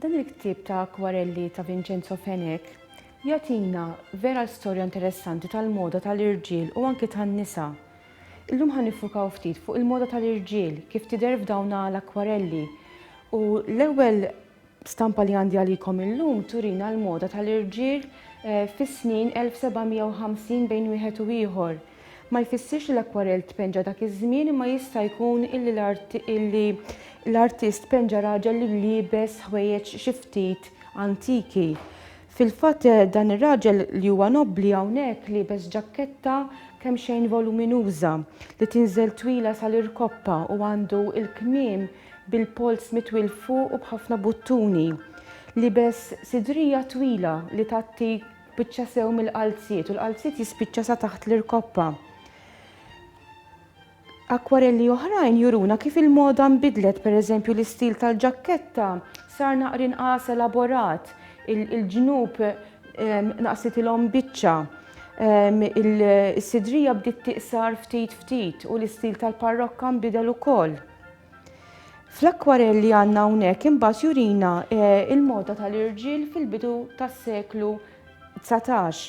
Dan il-ktieb ta' akwarelli ta' Vincenzo Fenech jagħtina vera storja interessanti tal-moda tal-irġiel u anki tan-nisa. Illum ħa nifukaw ftit fuq il-moda tal-irġiel kif tidher f'dawn l-akwarelli. U l-ewwel Stampa li għandi għalikom illum turina l-moda tal-irġiel fis-snin 1750 bejn wieħed u ieħor. Ma jfissirx li l-akkwarell tpenġa dak iż-żmien imma jista' jkun illi l-artist penġa raġel li liebes ħwejjeġ xi ftit antiki. Fil-fatt dan ir-raġel li huwa nobbli hawnhekk liebes ġakketta kemmxejn voluminuża li tinżel twila sal-irkoppa u għandu l-kmiem bil-polz mitwi 'l fuq u b'ħafna buttuni. Libes sidrija twila li tgħatti biċċa sew mill-qalziet u l-qalziet jispiċċa sa taħt l-irkoppa. Akkwarelli oħrajn juruna kif il-moda nbidlet, pereżempju l-istil tal-ġakketta sar naqri nqas elaborat, il-ġnub ehm, naqsitilhom biċċa, ehm, is-sidrija bdiet tiqsar ftit ftit u l-istil tal-parrokka nbidel ukoll. Fl-akkwarell li għandna hawnhekk imbagħad jurina eh, il-moda tal-irġiel fil-bidu tas-seklu 19.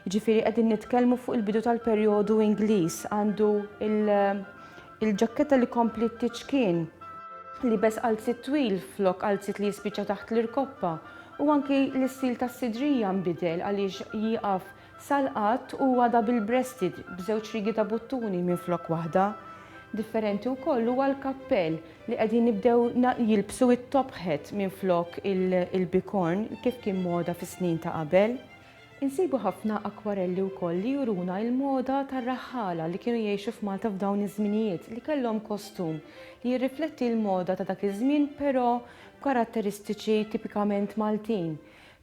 Ġifieri qegħdin nitkellmu fuq il-bidu tal-perjodu Ingliż għandu il-ġakketta li kompli t-tiċkien li bes qalzit twil flok qalzit li jispiċċa taħt l-irkoppa u anki l-istil tas-sidrija nbidel għaliex jieqaf Sal-qadd huwa double breasted b'żewġ riegi ta' buttuni minflok waħda. Differenti wkoll huwa l-kappell li qegħdin jibdew jilbsu it-top hat minflok il-bikorn kif kien moda fis-snin ta' qabel. Insibu ħafna akkwarelli wkoll li juruna l-moda tar-raħħala li kienu jgħixu f'Malta f'dawn iż-żminijiet li kellhom kostum li jirrifletti l-moda ta' dak iż-żmien però b'karatteristiċi tipikament Maltin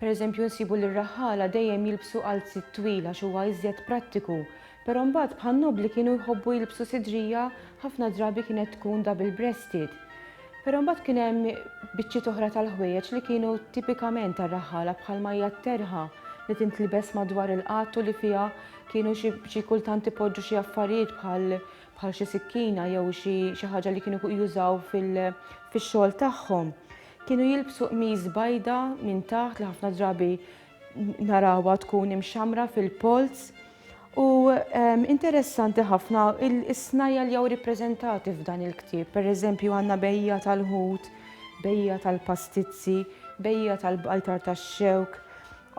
Pereżempju, nsibu li r-raħħala dejjem jilbsu għalziet twil għax huwa iżjed prattiku. Però mbagħad bħan-nob li kienu jħobbu jilbsu sidrija ħafna drabi kienet tkun double breasted. Però mbagħad kien hemm biċċiet oħra tal-ħwejjeġ li kienu tipikament tar-raħħala bħalma hija t-terħa li tintlibes madwar il-qadd u li fiha kienu xi xi kultant ipoġġu xi affarijiet bħal bħal xi sikkina jew xi xi ħaġa li kienu jużaw fil fix-xogħol tagħhom. Kienu jilbsu qmis bajda minn taħt li ħafna drabi narawha tkun imxamra fil-polz. U ehm, interessanti ħafna is-snajja li jew rippreżentati f'dan il-ktieb. Per eżempju għandna bejja tal-ħut, bejja tal-pastizzi, bejja tal-bajtar tax-xewk.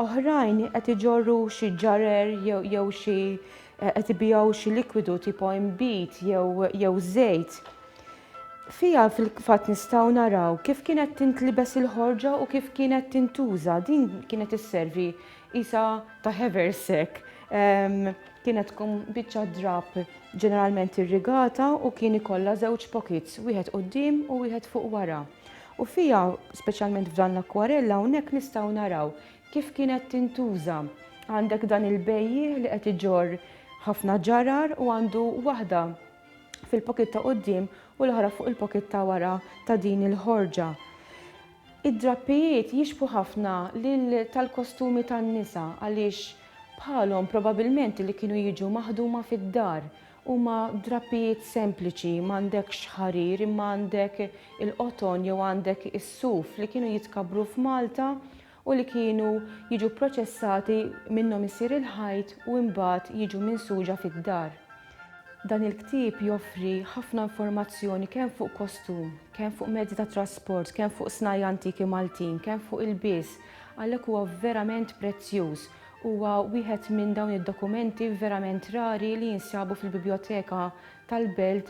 Oħrajn qed iġorru xi ġarer jew xi eh, qed ibijaw xi likwidu tipo imbit jew żejt. Fiha fil-fatt nistgħu naraw kif kienet tintlibes il-ħorġa u kif kienet tintuża. Din kienet isservi qisha ta' haversack. Kienet tkun biċċa drab ġeneralment irrigata u kien ikollha żewġ pockets, wieħed quddiem u wieħed fuq wara. U fiha, speċjalment f'dan l-akkwarell hawnhekk nistgħu naraw kif kienet tintuża. Għandek dan il-bejjiegħ li qed iġorr ħafna ġarar u għandu waħda fil-pocket ta' quddiem u l-oħra fuq il-pocket ta' wara ta' din il-ħorġa. Id-drappijiet jixbħu ħafna lil tal-kostumi tan-nisa għaliex bħalhom probabilment li kienu jiġu maħduma fid-dar. Huma drappijiet sempliċi, m'għandekx ħarir imma għandek il-qoton jew għandek is-suf li kienu jitkabbru f'Malta u li kienu jiġu pproċessati minnhom isir il-ħajt u imbagħad jiġu minsuġa fid-dar. Dan il-ktieb joffri ħafna informazzjoni kemm fuq kostum, kemm fuq mezzi ta' trasport, kemm fuq snajja' antiki Maltin, kemm fuq ilbies, għalhekk huwa verament prezzjuż. Huwa wieħed minn dawn id-dokumenti verament rari li jinsabu fil-Bibljoteka tal-Belt